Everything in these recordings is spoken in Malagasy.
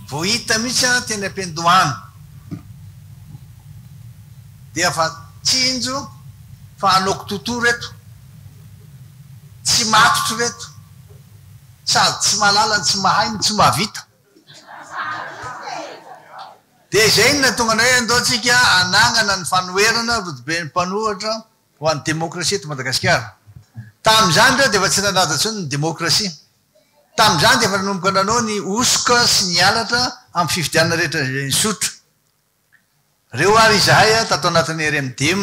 Vao hita mihitsy aho teny am-piandohana dia efa tsinjo fa hanaoko tuto reto. Tsy matotra ireto. Sady tsy mahalala ny tsy mahay no tsy mahavita. Dia izay no nahatonga anay hoe andao tsika hanangana ny fanoherana rodoben'ny mpanohatra ho an'ny demokrasia eto Madagasikara. Tamin'izany ireo dia efa tsy nanadra intsony ny demokrasia. Tamin'izany dia efa nanomboka nanao ny hosoka sy ny halatra amin'ny fifidianana rehetra izay nisotro. Reo ary izahay tato anatin'ny RMDM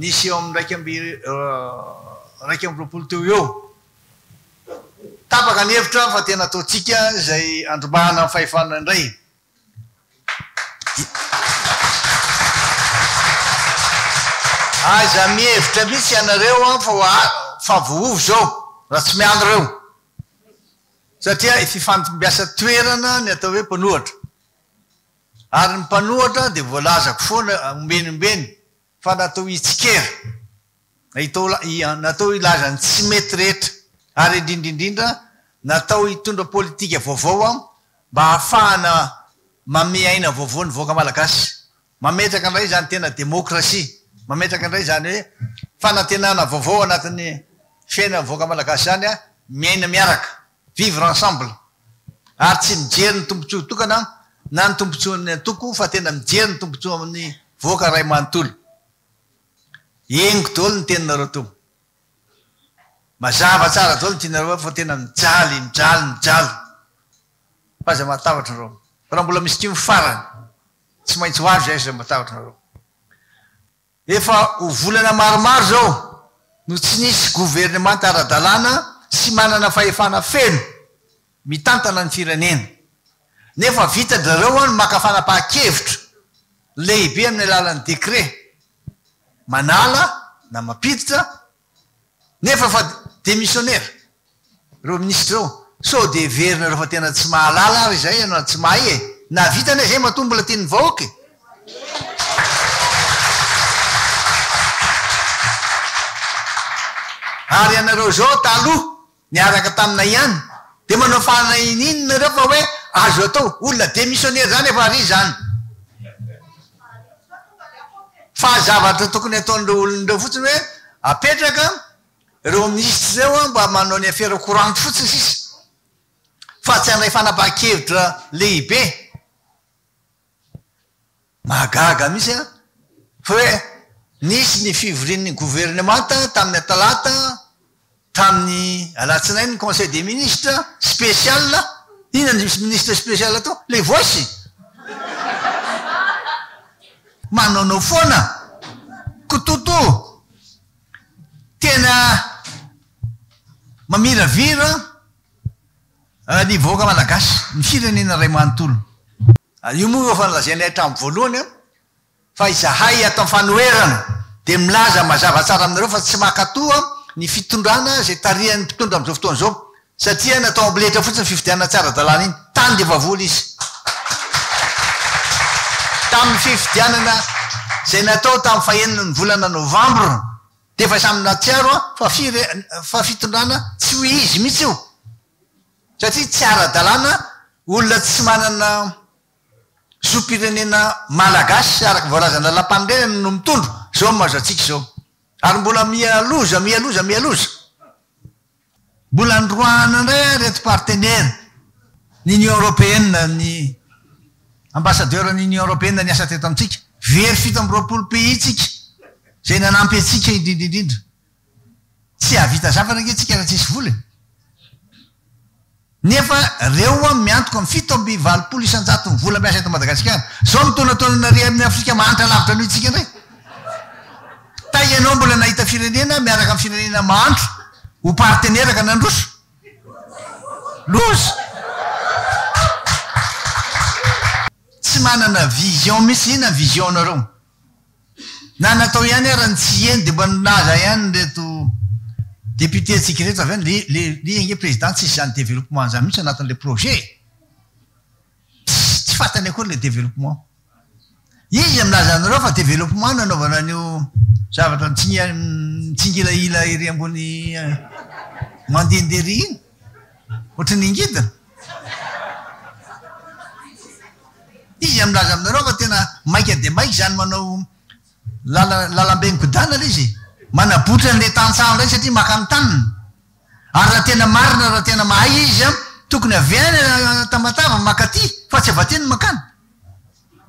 nisy eo amin'ny iraika amby iraika amby roapolo teo ho eo. Tapaka ny hevitra fa tena ataontsika izay handrombahana ny fahefana indray. Aza mihevitra mihitsy ianareo fa fa vohovo izao raha tsy miala ireo satria fifantombiasa toerana ny atao hoe mpanohatra ary ny mpanohatra dia voalazako foana ombieny ombieny fa natao hitsikera, natao hilaza ny tsy mety rehetra ary indrindra indrindra natao hitondra politika vaovao mba hahafahana mamehy aina vaovao ny vahoaka malagasy. Mametraka indray izany tena demokrasia, mametraka indray izany hoe fanantenana vaovao anatin'ny fiainan'ny vahoaka malagasy izany miaina miaraka. vivre ensemble ary tsy mijery ny tombotsoa tokana na ny tombotsoan'ny antoko fa tena mijery ny tombotsoa amin'ny voaka ray manontolo engo daholo ny teninareo to mazava tsara daholo ny tianareo fa tena mijaly mijaly mijaly fa aza matahotra nareo fa raha mbola misy tim farany tsy maintsy ho avy zay aza matahotra nareo Efa ho volana maromaro izao no tsy nisy governemanta ara-dalàna sy manana fahefana feno mitantana ny firenena. Nefa vitan-dRareo ny maka fanapahan-kevitra lehibe amin'ny alalan'ny décret manala na mampiditra Nefa fa dia misionera ireo minisitra ireo. Sao dia heverinareo fa tena tsy mahalala ary izay ianao na tsy mahay e. Nahavita anie izay matoa mbola tian'ny vahoaka e. Ary ianareo izao taloha Niaraka taminay ihany. Dia manao fahalahinina nareo fa hoe azo atao. Olona demissionnaire izany efa ary izany. Fa zavatra tokony ataon'ireo olona ireo fotsiny hoe apetraka ireo minisitra ireo mba manao ny afera courante fotsiny sisa. Fa tsy handray fanapahan-kevitra lehibe. Mahagaga mihitsy an! Fa hoe nisy ny fivorian'ny governemanta tamin'ny talata, tamin'ny alatsinainy ny conseil des ministres spécial, inona no misy ministre spécial tao? Les voices! Manaonao foana! Kototo! Tena mamiravira an! Ny vahoaka Malagasy, ny firenena iray manontolo. Io moa no efa nolazainay hatramin'ny voalohany fa izahay ato Anfanoherana dia milaza mazava tsara aminareo fa tsy mankato ny fitondrana izay tarihan'ny mpitondra amin'izao fotoana izao satria natao amboletra fotsiny ny fifidianana tsy ara-dalàna iny. Tany dia efa vola izy tamin'ny fifidianana izay natao tamin'ny fahenina ny volana novambra Dia efa samy nahatsiaro an fa fire fa fitondrana tsy ho izy mihitsy io satria tsy ara dalàna olona tsy manana zo pirenena malagasy araka voalazan'ny lalampanorenana no mitondro zao mazo antsika izao ary mbola miha loza miha loza miha loza. Mbola noroahana indray ary ireto partenera ny Union Européenne ny Ambassadeur ny Union Européenne niasa teto amintsika. Very fito amby roapolo pays tsika izay nanampy antsika indrindra indrindra. Tsy hahavita zavatra ange tsika raha tsisy vola e! Nefa reo ho'a miantoka amin'ny fito amby valopolo isan-jaton'ny vola miasa eto Madagasikara. Zao mitaonataona nary amin'ny Afrika mahantra lavitra noho itsika ndray. Tay ianao mbola nahita firenena miaraka amin'ny firenena mahantra ho partenera ka nandroso? Loza! Tsy manana vision mihitsy. Inona ny vision-nareo? Na natao ihany ara ny tsy hieny dia mba nilaza ihany ireto députés ntsika ireto avy any le le ange président tsisy izany développement izany mihitsy anatin'ilay projet e! Tsy tsy fantany akory ilay développement. Iza izay milaza anareo fa développement no anaovana an'io zavatra mitsingia mitsingilahila ery ambony mandehandeha ery iny? Ohatry ny ngidina. Iza no milaza aminareo fa tena maika dia maika izany manao lala lalambe mikodana ilay izy e? Manabotra an'ilay tantsaha indray satria maka ny taniny. Ary raha tena marina, raha tena mahay izy an, tokony avy any Tamatave maka aty fa tsy avy aty no makany.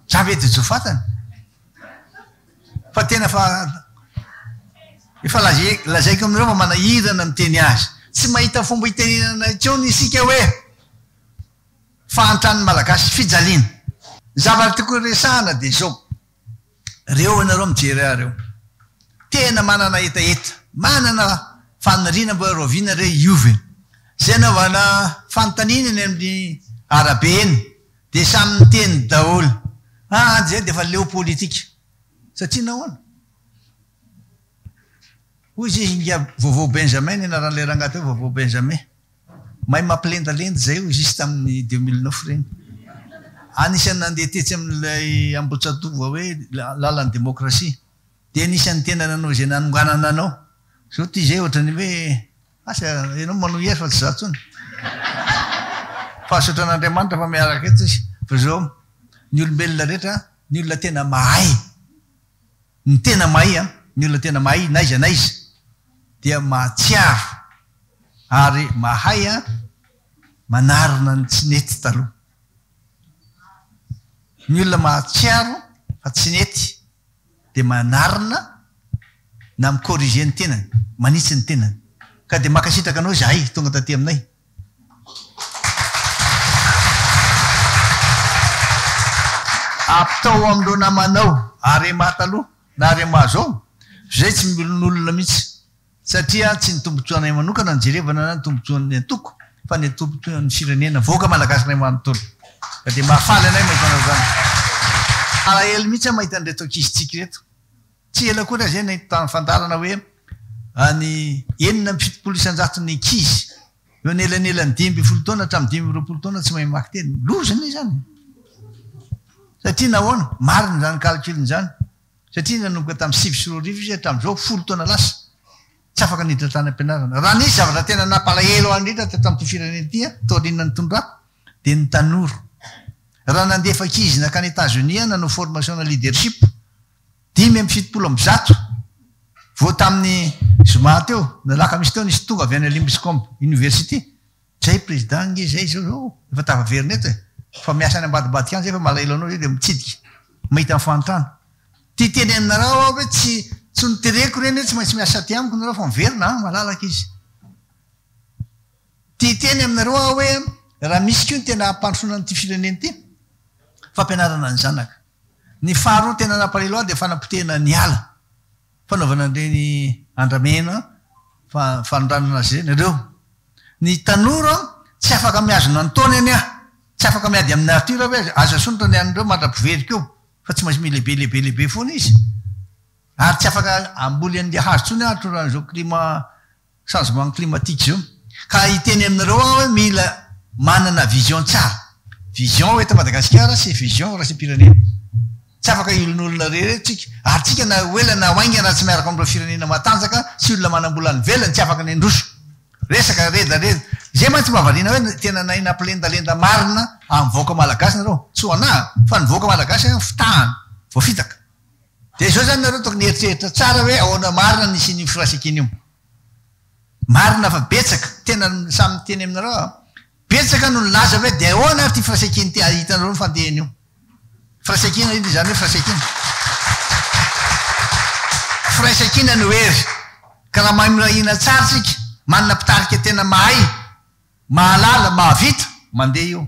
Javed Jofatany fa tena fa efa lazaiko aminareo fa manahirana miteny azy. Tsy mahita fomba hitenenana intsony isika hoe fahantran'ny Malagasy fijaliana. Ny zavatra tokony resahana dia izao, reo ianareo mijery ahy reo, tena manana hetaheta, manana faniriana mba hoe rahoviana re hiova e. Izay anaovana fanontaniana eny amin'ny arabe eny Dia samy miteny daholo. Ah an izay dia efa leo politika. Satria nahoana? Hoy izy inga Vaovao Benjamin ny anaran'ilay rangahy teo, Vaovao Benjamin. Mahay mampilendalenda izay hoy izy tamin'ny deux mille neuf ireny. Anisan'ny nandeha tetsy amin'ilay Ambohijatovo hoe lalan'ny demokrasia. Dia anisan'ny tena nanao izay nanonganana anao. Izao ity izay ohatran'ny hoe. Asa ianao manohy azy fa tsy za tsony. Pahasotra an'Andriamanitra fa miaraka eto izy fa zao ny olombelona rehetra ny olona tena mahay ny tena mahay an ny olona tena mahay n'aiza n'aiza dia mahatsiaro ary mahay an manarina ny tsy nety taloha ny olona mahatsiaro fa tsy nety dia manarina na mi-corriger ny tenany, manitsy ny tenany. Ka dia mankasitraka anao izahay tonga taty aminay. Aptao amin'ireo namanao, Arema taloha na Arema zao, izay tsy miolonolona mihitsy. Satria tsy ny tombotsoanay manokana no jerevana na ny tombotsoan'ny antoko fa ny tombotsoan'ny firenena, vahoaka malagasinay manontolo. Ka dia mahafaly anay mahita anao izany. Alahelo mihitsy aho mahita an'ireto ankizitsika ireto. Tsy ela akory aza izay nahita tamin'ny fandalana hoe any enina amby fitopolo isan-jato ny ankizy eo anelanelan'ny dimy ambin'ny folo taona hatramin'ny dimy amby roapolo taona tsy mahay mamaky teny. Loza anie izany e! Satria nahoana? Marina izany calcul-ny izany. satria nanomboka tamin'ny sivy sy roa arivo izy hatramin'izao folo taona lasa tsy afaka niditra tany am-pianarana. Raha nisy zavatra tena nampalahelo ahy indrindra teto amin'ity firenena ity aho taorian'ny nitondrako dia ny tanora. Raha nandefa ankizy nankany Etats-Unis aho nanao formation-na leadership dimy amby fitopolo amby zato vao tamin'ny zoma teo, ny alakamisy teo nisy tonga avy any Limbiscombe University, Zay président nge zay zao zao efa tafaverina eto e! fa miasa any ambadibadika any zay fa malahelo anao zay dia mitsidika mahita ny fahantrana. Ty tenenina-rao aho ve tsy tsy notereko ireny hoe tsy maintsy miasa aty amiko nareo fa miverina any malalaka izy. Ty hiteny aminareo aho hoe raha misy koa ny tena hampandrosoana an'ity firenena ity, fampianarana ny zanaka. Ny faharoa tena nampalahelo ahy dia fanapotehina ny ala. Fanaovana an'ireny andramena fa fanondranana azy ireny ireo. Ny tanora tsy afaka mihazona ny taony anie an! Tsy afaka miady amin'ny nature ve aza? Aza asondra ny an'ireo mandra-piverika eo fa tsy maintsy milehibe lehibe lehibe foana izy. Ary tsy afaka hamboly an'ilay hazo intsony an atoroan'izao climat changement climatique zao ka hiteny aminareo aho hoe mila manana vision tsara, vision eto Madagasikara sy vision raism-pirenena. Tsy afaka hiolonolona irery eto tsika ary tsika na ho ela na ho haingana raha tsy miaraka amin'ireo firenena matanjaka sy olona manam-bola any ivelany tsy afaka ny handroso. Resaka redaredra izay mantsy mba variana hoe tena nahay nampilendalenda marina an'ny vahoaka malagasy nareo? Tsy ho anah fa ny vahoaka malagasy fitahana, voafitaka. Dia izao izany nareo tokony hieritreritra tsara hoe ahoana marina ny hisian'io firaisankina io. Marina fa betsaka, tena samy miteny aminareo aho, betsaka no nilaza hoe dia ahoana ary ity firaisankina ity, ary hitanareo ny fandehany io. Firaisankina indry izany hoe firaisankina. Firaisankina no hery. Ka raha mahay mirahina tsara isika, manana mpitarika tena mahay, mahalala, mahavita, mandeha io.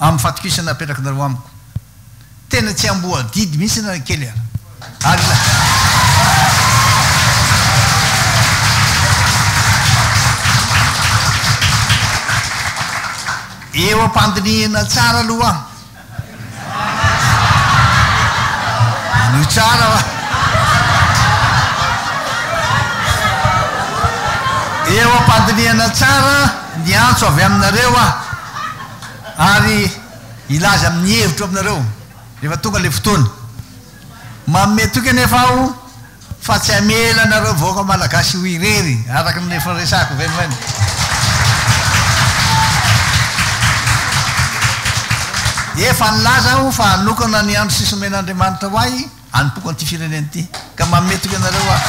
amin'ny fatokisana apetrakinareo amiko. Tena tsy amboadidy mihitsy na kely ara. Ary ilay. Eo am-pandinihina tsara aloha. Anio tsara va? Eo am-pandinihana tsara ny antso avy aminareo aho ary hilaza amin'ny hevitro aminareo rehefa tonga ilay fotoana. Manome toky anefa aho Fa tsy hamela anareo vahoaka malagasy ho irery, araka ny efa resahiko ve moa eny. Efa nilaza aho fa hanokana ny andro sisa omen'Andriamanitra ho ahy hanompoako an'ity firenena ity, ka manome toky anareo aho.